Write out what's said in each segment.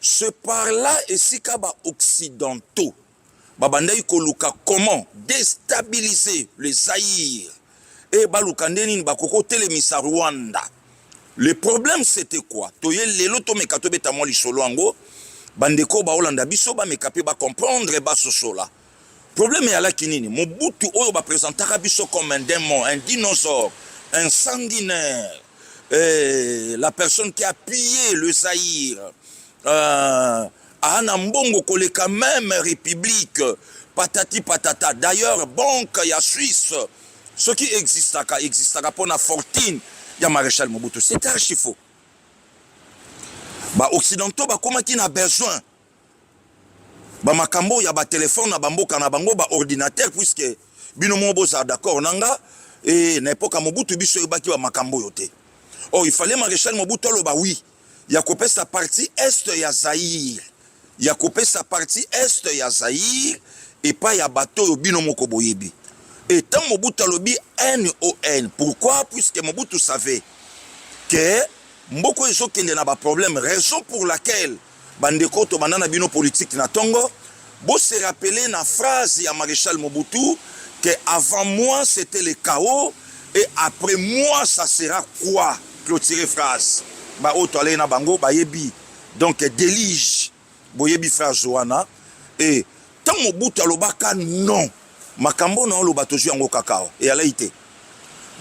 Ce par là esika ba occidentaux babandaki koluka comment destabiliser le Zaïre et baluka nde nini bakoki kotelemisa Rwanda. Le problème c'était quoi? Toye lelo tomeka tobeta mwa lisolo yango bandeko baolanda biso bameka mpe ba comprendre basosola. Problème ya laki nini? Mobutu oyo ba presentaka biso comme un demon, un dinosaure, un sanguinaire, eh, la personne qui a pillé le Zaïre, euh, ana mbongo koleka même république, patati patata. D'ailleurs, banque ya Suisse, ce qui existaka, existaka pona fortune ya Maréchal Mobutu. C'est archi faux. Ba occidentaux bakomaki na besoin ba makambo ya ba telephone na ba mboka na bango ba ordinateur puisque bino moko bozala d'accord na nga e na epoka mobutu biso oyebaki ba makambo oyo te or oh, il fallait maréchal mobutu aloba wi ya kopesa partie est ya zaire ya kopesa partie est ya zaire epai ya bato oyo bino moko boyebi e ntango mobutu alobi non pourquoi puisque mobutu savait ke mboko ezokende na baproblème raison pour laquelle Bandeko, tobanda na bino politique na tongo. Bo se rappeler na phrase ya Marechal Mobutu que avant moi c'était le chaos et après moi ça sera quoi? Clôturer phrase. Ba oyo toalei na bango bayebi. Donc delige. Boyebi phrase wana. Et Tant Mobutu alobaka non, makambo na oloba tozwi yango kaka awa. Eyalaki te.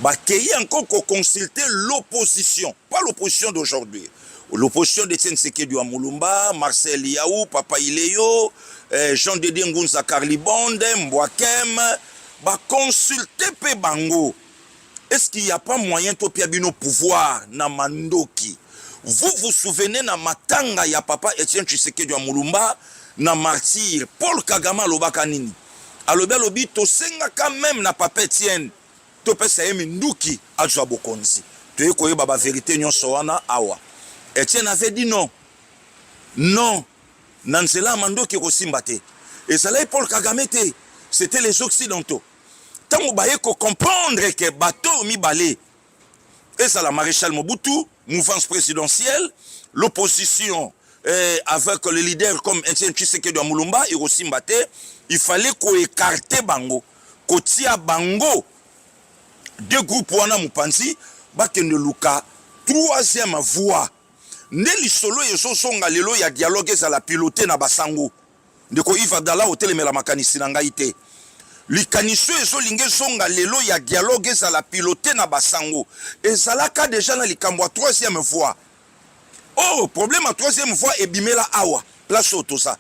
Bakei encore ko consulter l'opposition, pas l'opposition d'aujourd'hui. L'opposition de Etienne Sekedi wa Mulumba, Marcel Yaou, Papa Ileyo, eh, Jean Didier Ngunza Carlibonde, Mbwakem, ba consulter pe bango. Est ce qu'il ya pas moyen to pia bino pouvoir na mandoki? Vous vous souvenez na matanga ya papa Etienne Tshisekedi ya Mulumba na martyr Paul Kagame alobaka nini? Alobi alobi tosengaka meme na papa Etienne topesa ye minduki azwa bokonzi. Toye koyeba ba verite nyonso wana awa. Etienne avait dit non. Non. Na nzela ya mandoki ekosimba te. Ezalaki Paul Kagame te. C'était les occidentaux. ntango baye ko comprendre ke bato oyo mibale ezala maréchal mobutu mouvance présidentielle l'opposition eh, avec le leader comme Etienne Tshisekedi ya Mulumba ekosimba te il fallait koekarte bango kotia bango de groupe wana mopanzi bakende luka troisième voie nde lisolo ezozonga lelo ya dialogue ezala pilote na basango Ndeko Yves Abdallah, otelemela makanisi na ngai te. Likanisi oyo ezolinga ezonga lelo ya dialogue ezala pilote na basango ezalaka deja na likambo ya troisième voie. Oh, problème ya troisième voie ebimela awa place oyo toza.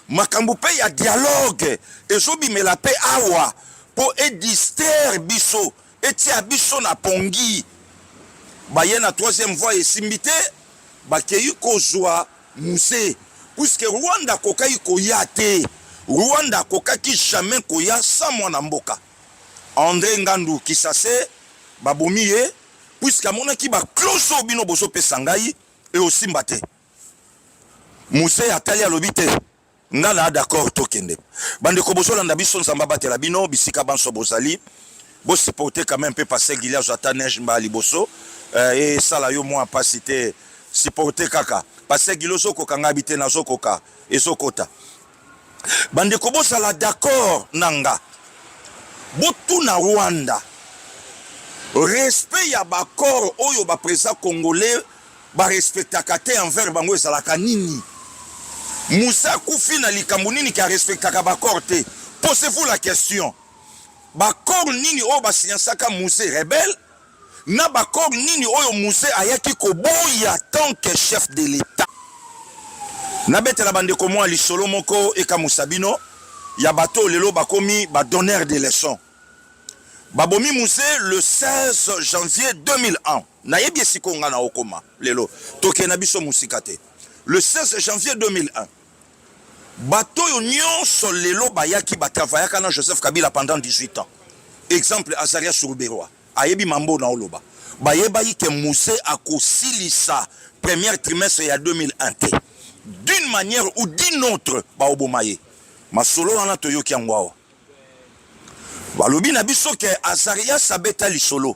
Makambo mpe ya dialogue ezobimela mpe awa mpo edister biso Etia biso na pongi. Baye na troisième voie esimbi te, bakeyi kozua Muze. Puisque Rwanda akokaki koya te. Rwanda akokaki jamais koya sans mwana mboka. Andre Ngandu Kisase babomi ye puisque amonaki ba clause oyo bino bozopesa ngai eosimba te. Muze atali alobi te. Nga na d'accord tokende. Bandeko bozolanda biso Nzambe abatela bino bisika banso bozali. Bo supporter quand même pe passer Gileazo ata neige mba liboso. Euh, et sala yo mwa pasi te. Supporter kaka. Passer Gilozo koka nga bite nazo koka. Ezokota. Bandeko bozala d'accord na nga. Botuna Rwanda. Respect ya bakor oyo ba président congolais ba respectaka te envers bango ezalaka nini Moussa akufi na likambo nini ki a respectaka ba corps te posez-vous la question ba corps nini oyo ba signansaka Mousse rebelle na ba corps nini oyo Mousse ayaki koboya tant que chef de l'etat nabetela bandeko mwa lisolo moko ekamusa bino ya bato lelo bakomi ba donneur de leçon babomi Mousse le 16 janvier 2001 Nayebi ye sikoyo nga na okoma lelo tokee na biso musika te le 16 janvier 2001 bato oyo nyonso lelo bayaki batravayaka na Joseph Kabila pendant 18 ans exemple Azaria Suruberwa ayebi mambo na oloba bayebaki ke muse akosilisa première trimestre ya 2001 te d'une manière ou d'une autre baoboma ye masolo wana toyoki yango awa balobi na biso ke Azarias abeta lisolo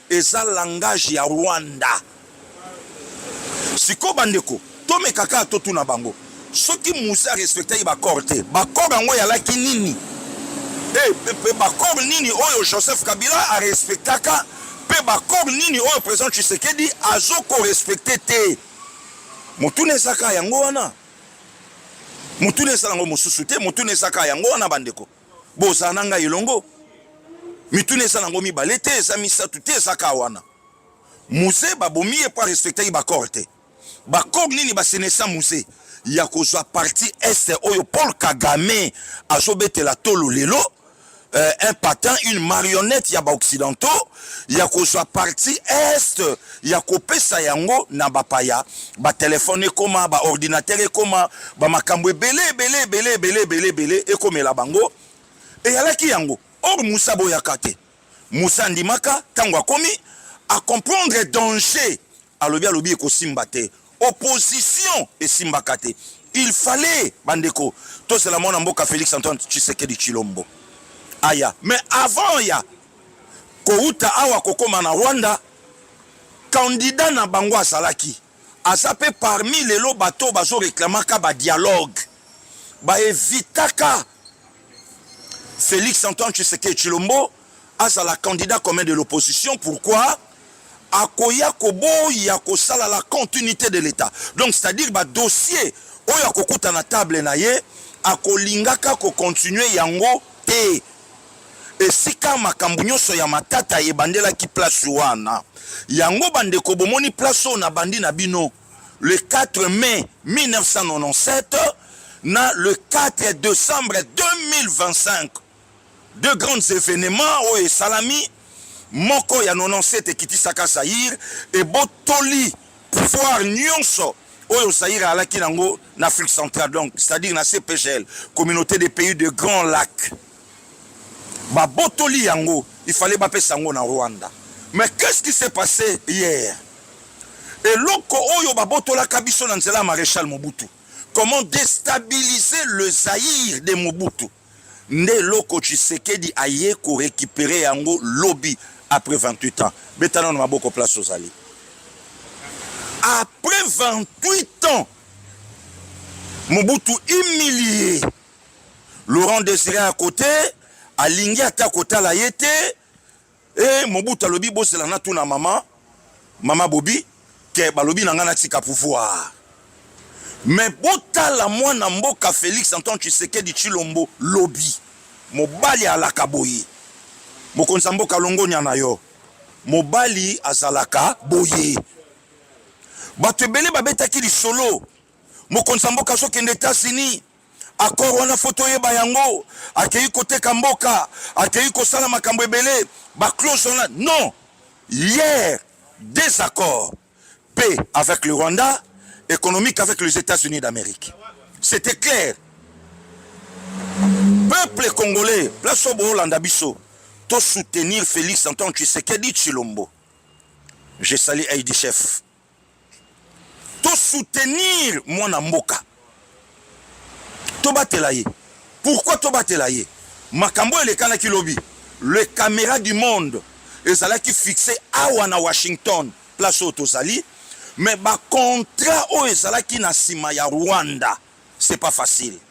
Eza langage ya Rwanda. Sikoyo bandeko, tomeka kaka totuna bango. Soki Muze a respectaki ba corps te, ba corps yango eyalaki nini? Et, et ba corps nini oyo Joseph Kabila a respectaka pe ba corps nini oyo president Tshisekedi azo ko respecter te? Motuna eza kaka yango wana. Motuna eza nango mosusu te, motuna eza kaka yango wana bandeko. bozala na ngai elongo mituna eza nango mibale te eza misato te eza ka wana muze babomi ye mpo arespectaki bacor te bacor nini basenesa muze ya kozwa parti este oyo paul kagame azobetela tolo lelo euh, un patin une marionnette ya baoccidentaux ya kozwa parti este ya kopesa yango na bapaya batelefone ekoma baordinatere ekoma bamakambo ebele ebele ebele ebele ebele ebele ekomela bango eyalaki yango or musa aboyaka te musa andimaka ntango akomi acomprendre danger alobi alobi ekosimba te Opposition esimbaka te. Il fallait bandeko tozela mwana mboka Felix Antoine Tshisekedi Tshilombo aya mais avant ya kouta awa kokoma na Rwanda candidat na bango azalaki aza pe parmi lelo bato bazo reclamaka ba dialogue ba evitaka Felix Antoine Tshisekedi Chilombo azala candidat commun de l'opposition pourquoi akoya koboya kosala la continuité de l'État donc c'est-à-dire ba dossier oyo akokuta na table na ye akolingaka kocontinue yango te esika makambo nyonso ya matata ebandelaki place wana yango bandeko bomoni place oyo nabandi na bino le 4 mai 1997 na le 4 décembre 2025 deux grands événements oyo esalami moko ya 97 ekitisaka Zaïre ebotoli pouvoir nyonso oyo Zaïre alaki nango na Afrique centrale donc c'est-à-dire na CPGL communauté des pays de grands lacs Ba botoli yango il fallait ba pesa yango na Rwanda mais qu'est ce qui s'est passe hier? Eloko oyo ba botolaka biso na nzela ya Marechal Mobutu comment destabiliser le Zaïre de Mobutu nde eloko Tshisekedi aye ko recuperer yango lobi après 28 ans. Beta nano maboko place ozali. Après 28 ans Mobutu humilié Laurent Desire ya kote alingi ata kotala ye te. E Mobutu alobi bozela na tuna mama mama Bobi ke balobi na ngai natika pouvoir. Mais botala mwana mboka Felix Antoine Tshisekedi Tshilombo lobi mobali alaka boye mokonzi ya mboka longonya na yo mobali azalaka boye bato ebele babetaki lisolo mokonzi ya mboka azokende Etats-Unis accord wana fo toyeba yango akei koteka mboka akei kosala makambo ebele baclose wana non hier des accords paix avec le rwanda économique avec les états-unis d'amérique c'était clair peuple congolais place oyo boolanda biso tosoutenir félix antoine tshisekedi tshilombo je sali aidi chef To soutenir mwana mboka. Tobatela ye. Pourquoi tobatela ye? Makambo elekanaki lobi. Le camera du monde ezalaki fixe awa na Washington place oyo tozali mais ba contrat oyo ezalaki na sima ya Rwanda c'est pas facile.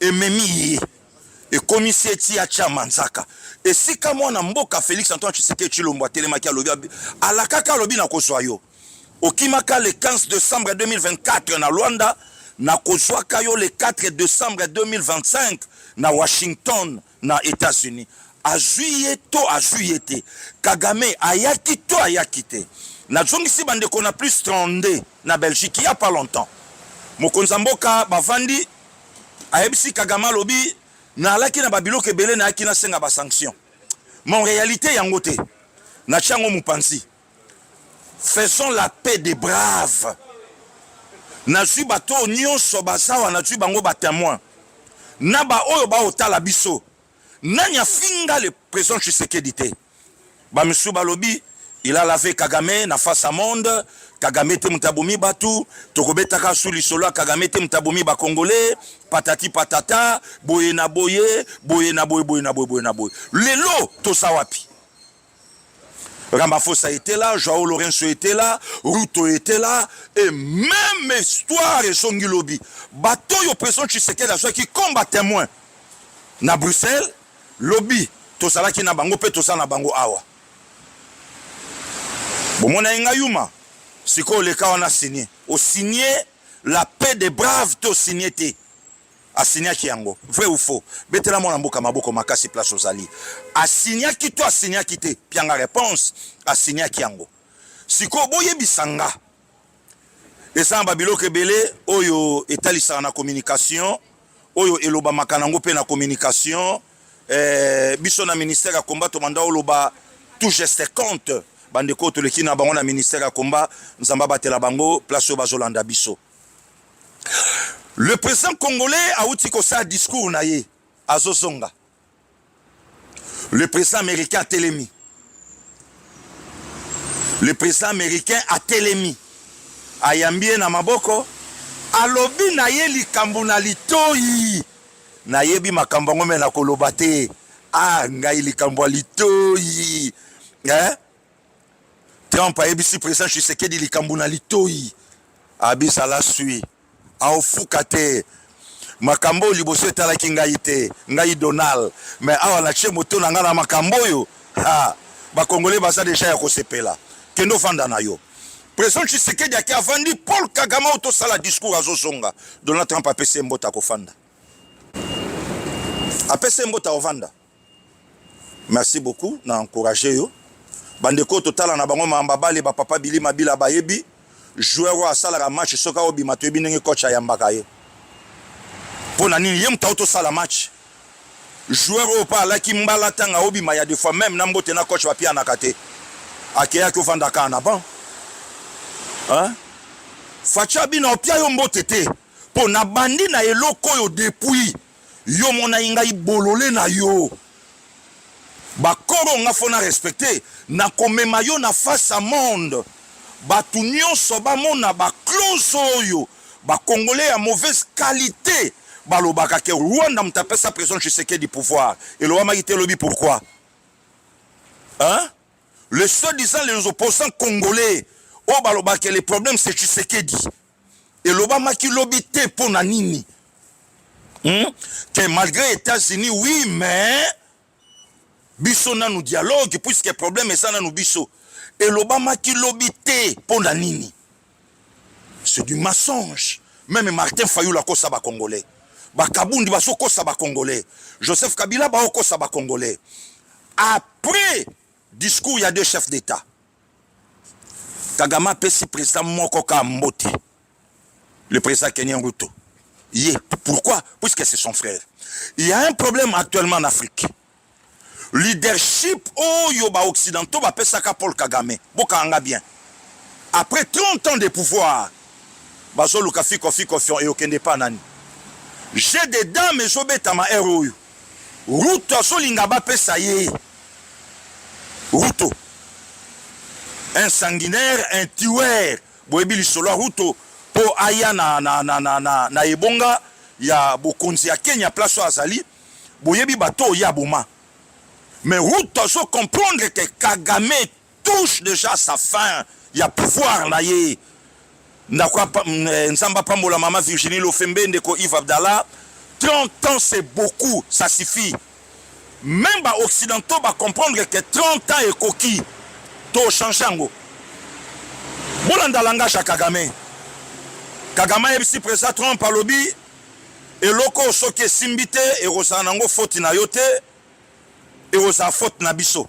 ememi ye ekomisi ye ti atia manzaka esika mwana mboka Felix Antoine Tshisekedi Tshilombo atelemaki alobi alakaka alobi na kozwa yo okimaka le 15 decembre 2024 na Luanda na kozwaka yo le 4 decembre 2025 na Washington na Etats-Unis azwi ye to azwi ye te Kagame ayaki to ayaki te nazongisi bandeko na plus 32 na Belgique il y a pas longtemps mokonzi ya mboka bavandi ayebisi Kagame alobi nalaki na babiloko ebele nayaki nasenga basanction mon réalité yango te natya yango mopanzi Faisons la paix des braves. Nazwi bato oyo nyonso bazawa, nazwi bango ba temoin na ba oyo baotala biso. Nani afinga le president Tshisekedi te? Ba misusu balobi il a lavé Kagame na face à monde. Kagame te moto abomi bato, tokobetaka su lisolo ya Kagame te moto abomi ba Congolais, patati patata, boye na boye, boye na boye, boye na boye, boye na boye. Lelo toza wapi? Ramaphosa était là, Joao Lourenço était là, Ruto était là, et même histoire et son lobby. Bateau yo président Tshisekedi soit qui combat témoin. Na Bruxelles, lobby, qui na bango, pe tosa na bango awa. Bomona inga yuma, siko leka wana signé. Au signé, la paix des braves, to signé te. asiniaki yango vrai ou faux betela mwana mboka maboko makasi place ozali asiniaki to asiniaki te pianga réponse asiniaki yango sikoyo boyebisa nga eza na babiloko ebele oyo etalisaka na communication oyo elobamaka nango mpe na communication eh, biso na ministère ya combat tomanda oloba tout geste compte bandeko oyo toleki na bango na ministère ya combat nzambe abatela bango place oyo bazolanda biso Le president congolais awuti kosala discours na ye azozonga. Le president américain atelemi. Le president américain atelemi. Ayambi ye na maboko, alobi na ye likambo na litoyi. Nayebi makambo yango me nakoloba te. Ah, ngai likambo ya litoyi. Eh? Trump ayebisi president Tshisekedi likambo na litoi abisala sui aofuka te makambo oyo liboso etalaki ngai te ngai Donald me awa natie moto na ngai na makambo oyo ha bakongole baza deja ya kosepela kende ofanda na yo president Tshisekedi ake avandi Paul Kagame oyo tosala discours azozonga Donald Trump apesi ye mbote akofanda apesi ye mbote akovanda Merci beaucoup na encourager yo. Bande ko totala na bango mamba bale ba papa Billy Mabila bayebi joueur oyo asalaka match soki aobima toyebi ndenge coach ayambaka ye mpo na nini ye moto auti osala match joueur oyo mpo alaki mbala ntanga aobima ya defois meme na mbote na coach bapianaka te akeyaki ofanda kaka na ban facha bino opia yo mbote te mpo nabandi na eloko oyo depuis Yo monai ngai bolole na yo. Bakoro nga fona respecte na komema yo na face à monde. Batu nionso bamona ba close oyo ba congolais ya mauvaise qualite balobaka ke Rwanda moto apesa president Tshisekedi pouvoir. Elobamaki te lobi pourquoi? Hein? Le soi-disant les opposants congolais oyo balobaka les problèmes c'est Tshisekedi. elobamaki lobi te mpo na nini hmm? que malgré États-Unis oui mais biso nanu dialogue puisque problème eza nanu biso elobamaki lobi te mpo na nini c'est du mensonge meme Martin Fayulu akosa ba congolais bakabundi bazokosa ba congolais Joseph Kabila baokosa ba congolais après discours ya deux chefs d'État Kagame apesi president moko ka mbote le président Kenyan Ruto ye pourquoi puisque c'est son frère il y a un problème actuellement en Afrique leadership oyo ba occidentaux bapesaka Paul Kagame bokanga bien après 30 ans de pouvoir bazoluka fiko fiko fion eyokende pa nani j'ai des dames ezobetama heure oyo Ruto azolinga bapesa ye Ruto un sanguinaire un tueur boyebi lisolo ya Ruto po aya na, na, na, na, na, na ebonga ya bokonzi ya Kenya place oyo azali boyebi bato oyo ye aboma mais Ruto azo comprendre que Kagame touche dejà sa fin ya pouvoir na ye ndako eh, nzambe apambola mama virginie lofembe ndeko yves abdallah 30 ans c'est beaucoup ça suffit même baoccidentaux bacomprendre que 30 ans ekoki tochange yango bolanda langage ya kagame kagame ayebisi président trump alobi eloko soki esimbi te ekozala nango foti na yo te ekozala foti na biso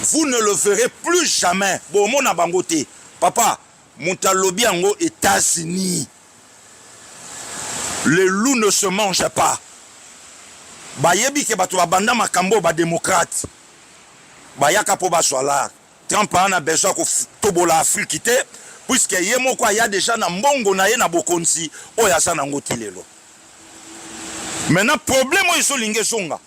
vous ne le verrez plus jamais bomona bango te papa moto alobi yango états-unis le loup ne se mange pas bayebi ke bato babanda makambo oyo bademokrate bayaka mpo bazwa lar trump ana besoin ya kotobola afriki te puiske ye moko aya deja na mbongo na ye na bokonzi oyo aza nango ti lelo maintenant problème oyo ezolinga ezonga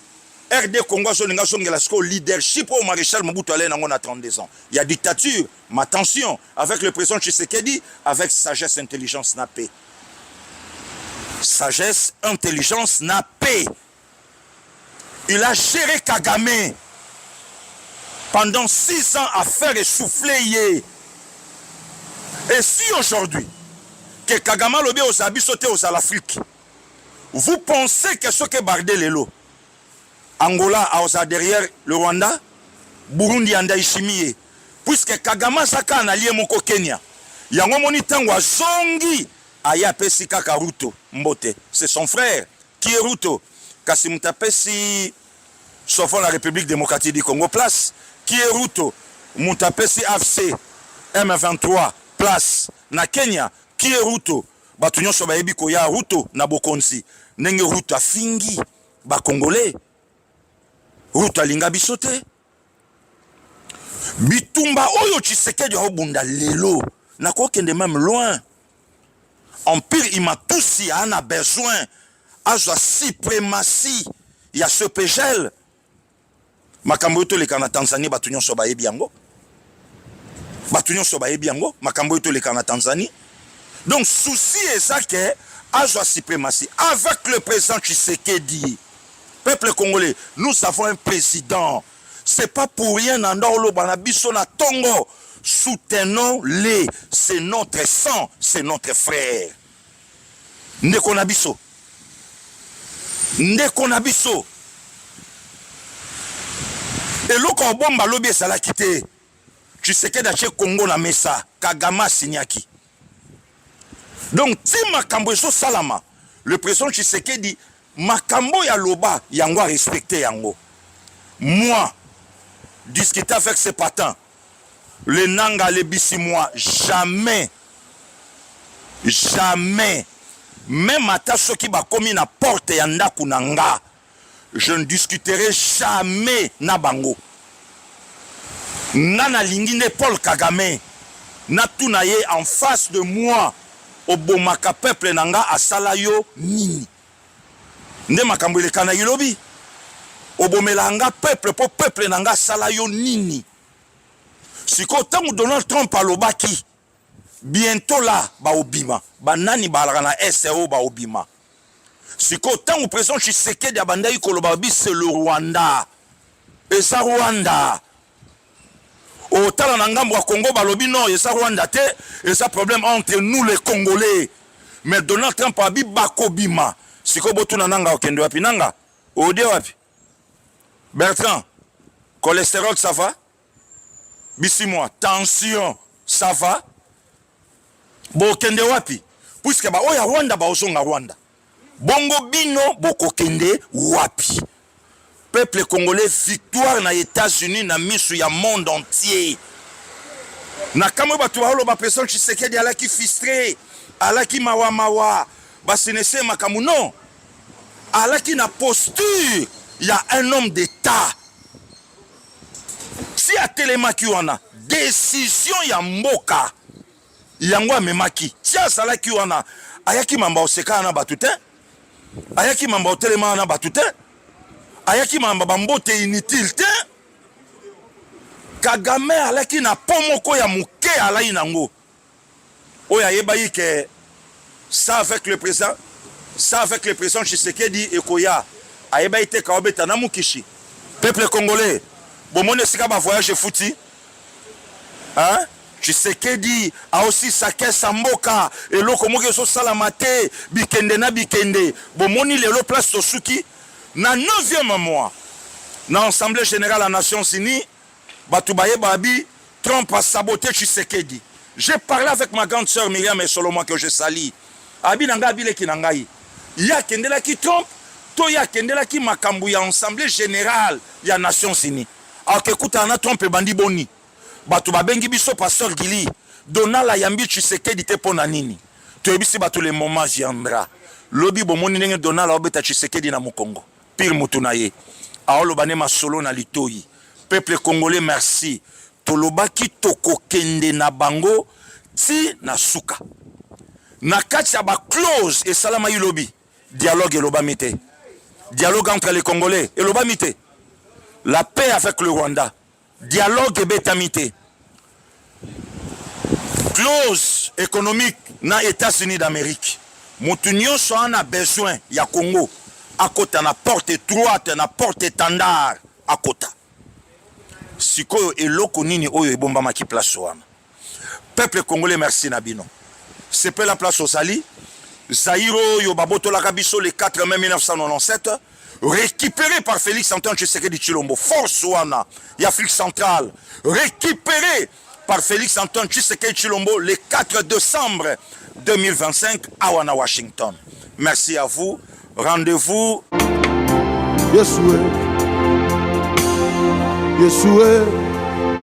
RD Congo azolinga azongela sikoyo leadership oyo Maréchal Mobutu alaye nango na 32 ans ya dictature ma tension avec le président Tshisekedi avec sagesse intelligence na paix sagesse intelligence na paix il a géré Kagame pendant 6 ans à faire essouffler ye et si aujourd'hui que Kagame alobi ozala biso te ozala Afrique Vous pensez que soki ebarde lelo Angola aoza derrière le Rwanda, Burundi ya Ndayishimiye puisque Kagame aza kaka na lie moko Kenya. Yango omoni tango azongi aye apesi kaka Ruto mbote, c'est son frère qui est Ruto kasi moto apesi sauvons la Republique Democratique du Congo place qui est Ruto, moto apesi AFC M23 place na Kenya qui est Ruto. bato nyonso bayebi koya ruto na bokonzi ndenge ruto afingi bakongole ruto alinga biso te bitumba oyo tshisekedi aobunda lelo nakokende meme loin empire imatusi ana besoin azwa suprematie ya ce pegel makambo oyo toleka na tanzanie bato nyonso bayebi yango bato nyonso bayebi yango makambo oyo toleka na tanzanie donc souci eza ke azwa suprématie avec le président tshisekedi peuple congolais nous avons un président c'est pas pour rien na nda oloba na biso na tongo soutenons les c'est notre sang c'est notre frère Ndeko na biso, ndeko na biso, eloko obomba lobi ezalaki te. Tshisekedi atie Congo na mesa, Kagame asinyaki. Donc ti makambo ezosalama, le president Tshisekedi makambo ya loba yango a respecte yango. Moi, discuter avec ce patin, Le nanga alebisi moi jamais jamais meme ata soki bakomi na porte ya ndako na nga je ne discuterai jamais na bango nga nalingi nde Paul Kagame natuna ye en face de moi obomaka peuple na nga asala yo nini nde makambo eleka na ilobi obomela nga peuple mpo peuple na nga asala yo nini sikoyo ntango donald trump alobaki bientôt la baobima banani baalaka na este oyo baobima sikoyo ntango president tshisekedi abandaki koloba babi se le rwanda eza rwanda otala na ngambo ya congo balobi non eza rwanda te eza problème entre nous les congolais mais donald trump abi bakobima sikoyo botuna nanga okende wapi nanga ode wapi bertrand cholesterol ça va bisimwa tension ça va bokende wapi puiske baoyo ya rwanda baozonga rwanda Bongo bino bokokende wapi? Peuple congolais victoire na Etats-Unis na misu ya monde entier. Na kamwe bato baoloba president Tshisekedi alaki fistre, alaki mawa mawa, basenese makambo non. Alaki na posture ya un homme d'etat. Si atelemaki wana decision ya mboka yango amemaki ti azalaki wana ayaki mamba osekana na bato te ayaki mamba otelemana na bato te ayaki mamba bambote inutile te kagame alaki na po moko ya moke alai nango oyo ayebaki ke Ça avec le président, ça avec le président Tshisekedi ekoya. Ayebaki te kaobeta na mukishi. Peuple congolais, bomoni esika ba voyage efuti? Hein? tshisekedi aosisa kesa mboka eloko moko ezosalama te bikende na bikende bomoni lelo place tosuki na 9e mois na assemblée générale ya nations unies Batu baye babi Trump a sabote Tshisekedi. J'ai parlé avec ma grande sœur Myriam Esolomwa que je salie. Abi na ngai abileki na ngai. Ye akendelaki Trump to ye akendelaki makambo ya Assemblée générale ya Nations Unies. Alors que kutana na Trump ebandi boni? Batu babengi biso pasteur Gili. Donald ayambi Tshisekedi te pona nini? Toyebisi batu le moment viendra. Lobi bomoni ndenge Donald aobeta Tshisekedi na mukongo. pire moto na ye aoloba nde masolo na litoyi peuple congolais merci tolobaki tokokende na bango ti na suka na kati ya baclose esalamaki lobi dialogue elobami te dialogue entre les congolais elobami te la paix avec le rwanda Dialogue ebetami te. Clause économique na Etats-Unis d'Amerique. Mutu nyonso ana besoin ya Congo akota na porte étroite, na porte étendard akota. Sikoyo eloko nini oyo ebombamaki place wana? peuple congolais merci na bino sepela place ozali Zaïro oyo babotolaka biso le 4 mai 1997 récupéré par Félix Antoine Tshisekedi Chilombo force wana ya Afrique centrale récupéré par Félix Antoine Tshisekedi Chilombo le 4 décembre 2025 à Wana Washington merci à vous rendez-vous Yesue Yesue